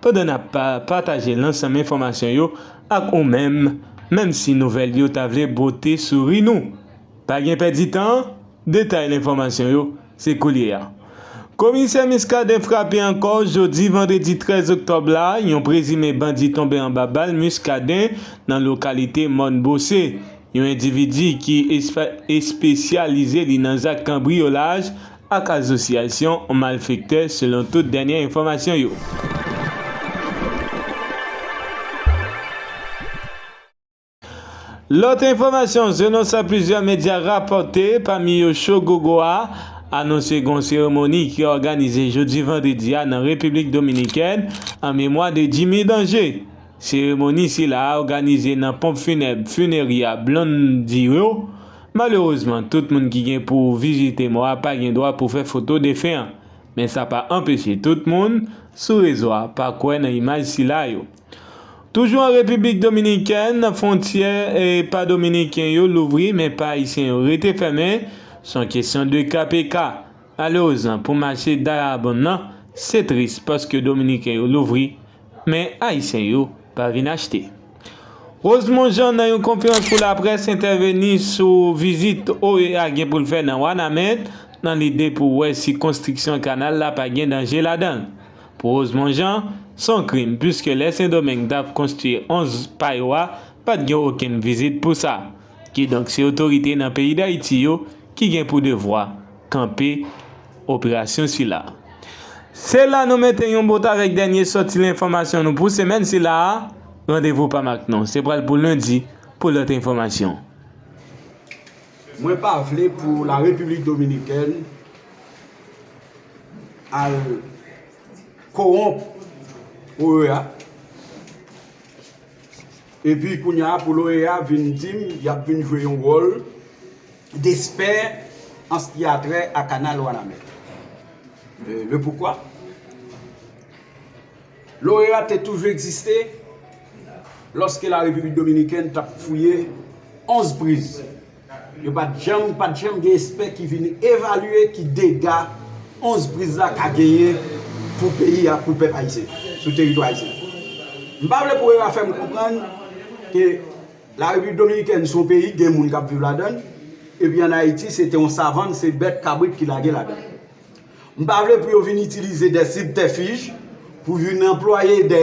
pandan nap pa pataje lansanm enfòmasyon yo ak ou menm menm si nouvèl yo ta vle bwote souri nou. Pa gen pèdi tan, detay lenfòmasyon yo se koulye a. Komisè Muscadin frape ankò jodi vandredi 13 oktòb la, yon prezime bandi tonbe anba bal Muscadin nan lokalite Mòn Bose. Yon endividi ki espesyalize li nan zak kanbriyolaj ak azosyasyon malfektè selon tout dènyè enfòmasyon yo. Lòt enfòmasyon selon sa plizyè medya rapòte pami yo Show Gogo a anonse gon seremoni ki òganize jodi vandredi a nan Repiblik Dominikèn an memwa de Jimmy Danger. Seremoni sila a òganize nan ponp funèb Funeria Blondiro. Malerezman, tout moun ki gen pou vizite mò a pa gen dwa pou fè foto defen an. Men sa pa anpeche tout moun sou rezo a pa kwè nan imaj sila yo. Toujou an Repiblik Dominikèn, fwontyè pa Dominiken yo louvri men pa Ayisyen yo rete fèmen, son kesyon de ka pe ka. Malerezan pou mache Dayabonn nan, se tris paske dominiken yo louvri, men ayisyen yo pa vin achte. Rosemond Jean nan yon konferans pou laprès entèveni sou vizit OEA gen pou l fè nan Wanament nan lide pou wè si konstriksyon kanal la pa gen danje ladan l. Pou Rosemond Jean, s on krim puiske lè Sendomeng t ap konstwi 11 pa yo a pa t gen okenn vizit pou sa. Kidonk se otorite nan peyi Dayiti yo ki gen pou devwa. kanpe operasyon sila. Se la nou mete yon bout avèk dènye sòti lenfòmasyon nou pou semèn sila a, randevou pam ak nou se pral pou lendi pou lòt enfòmasyon. Mwen pa vle pou la République Dominicaine al kowonp OEA epi kounya pou l OEA vin di m y ap vin jwe yon wòl. Desper an s ki a trè a kanal Wanament. Le poukwa? Loreat te toujou egziste lòske la Repiblik Dominikèn t ap fouye 11 priz. Yo pa t janm pa t janm gen espè ki vin evalye ki dega 11 priz la ka genyen pou peyi a, pou pèp ayisyen, sou teritwa ayisyen. M pa vle pou era fè m konprann ke. La Repiblik Dominikèn se yon peyi ki gen moun k ap viv ladan l, epi ann Ayiti se te yon savann, se bèt, kabrit ki lage ladan l. M pa vle pou yo vin itilize dè sibtèfij, pou vin anplwaye dè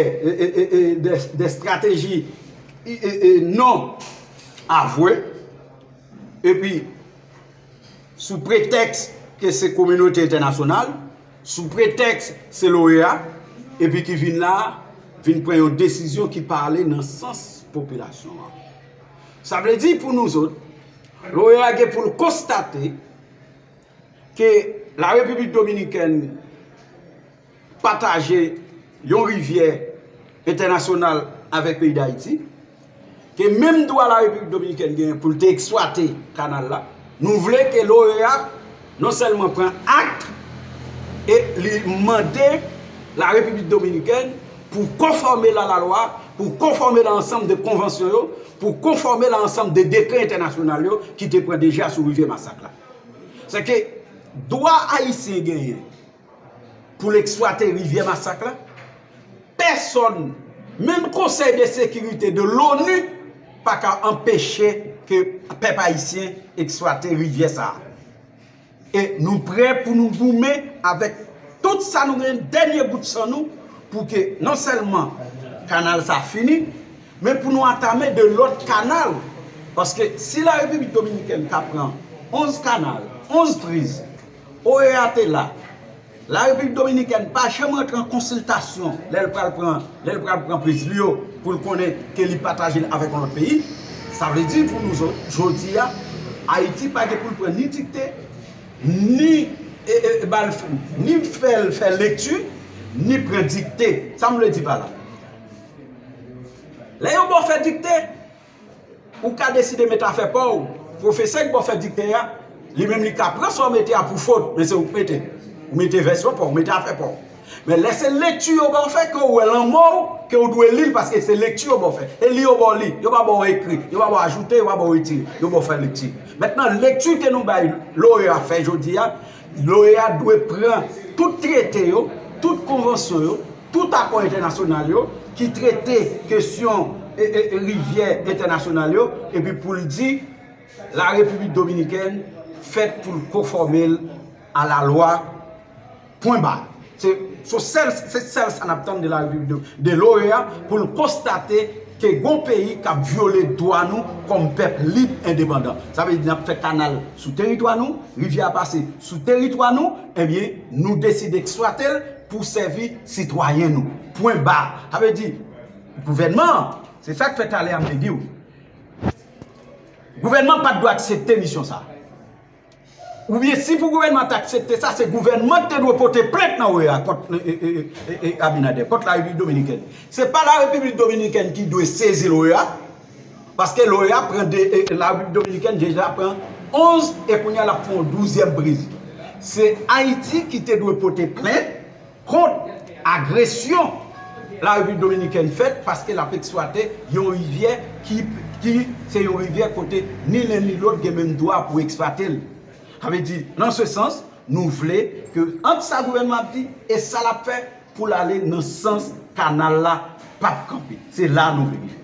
estrateji non avwe, epi. sou pretèks ke se kominote entènasyonal, sou pretèks se l'OEA, epi ki vin la, vin pran yon desizyon ki pa ale nan sans popilasyon an. Sa vle di pou nouzot, l'OEA gen pou l konstate ke la Repiblik Dominikèn, pataje yon rivyè entènasyonal avèk peyi Dayiti, ke menm dwa la Repiblik Dominikèn genyen pou l te eksplwate kanal la, nou vle ke l'OEA non sèlman pran akte e li mande la Repiblik Dominikèn pou konfòme l a la lwa, pou konfòme l a ansanm de konvansyon yo, pou konfòme l a ansanm de dekrè entènasyonal yo ki te pran deja sou rivyè Masak la. Sèke dwa Ayisyen genyen. pou l eksplwate rivyè masak la, pèsòn, menm konsèy de sekirite de l'ONU pa ka anpeche ke pèp ayisyen eksplwate rivyè sa a. E nou prè pou nou goumen avèk tout sa nou gen, dènye gout san nou, pou ke non sèlman kanal sa fini, men pou nou antame de lòt kanal, paske si la Repiblik Dominikèn ka pran 11 kanal, 11 priz, OEA te la. La Repiblik Dominikèn pa janm rantre an konsiltasyon lè l pral pran, lè l pral pran priz li yo pou l konnen ke li pataje l avèk yon lòt peyi. Sa vle di pou nou zòt, jodi a, Ayiti pa gen pou l pran ni dikte, ni ba l, ni fè l fè lekti, ni pran dikte. Sa m vle di pa la? Lè yon bò fè dikte. Ou ka deside met afè pa w. Pwofesè ki pou fè dikte a, li menm li ka pran sa w mete a pou fot, men se ou ki mete. Ou mete vèsyon pa w, ou mete afè pa w. Men lè se lekti yo ba w fè, ke ou wè lan man w, ke ou dwe li l paske se lekti yo ba w fè. E li yo ba w li. Yo pa ba w ekri. Yo pa ba w ajoute, yo pa ba w retire. Yo ba w fè lekti. Mentnan lekti ke nou bay loreya fè jodi a, L'OEA dwe pran tout trete yo, tout konvansyon yo, tout akò entènasyonal yo ki trete kesyon rivyè entènasyonal yo epi pou l di La Repiblik Dominikèn fèt pou l konfòme l a lalwa, pwen ba. Se sèl sa n ap tann de la Repiblik de l'OEA pou l konstate ke gon peyi k ap vyole dwa nou kòm pèp lib endepandan. Sa vle di n ap fè kanal sou teritwa nou, rivyè a pase sou teritwa nou, ebyen nou deside eksplwate l pou sèvi sitwayen nou. Pwen ba. Sa vle di gouvènman an, se sa k fè talè a m te di w, gouvènman an pa t dwe aksepte misyon sa. Oubyen si pou gouvènman ta aksepte sa, se gouvènman ki te dwe pote plent nan OEA kont Abinader, kont la Repiblik Dominikèn. Se pa la Repiblik Dominikèn ki dwe sezi l'OEA, paske l'OEA pran, la Repiblik Dominikèn deja pran 11 e kounya l'ap fè yon 12 èm prezi. Se Ayiti ki te dwe pote plent. kont agresyon la Repiblik Dominikèn fèt paske l ap eksplwate yon rivyè ki ki se yon rivyè kote ni len ni lòt gen menm dwa pou eksplwate l. Sa vle di, nan se sans, nou vle ke ant sa gouvènman ap di e sa l ap fè pou l ale nan sans kanal la pa p kanpe. Se la nou vle rive.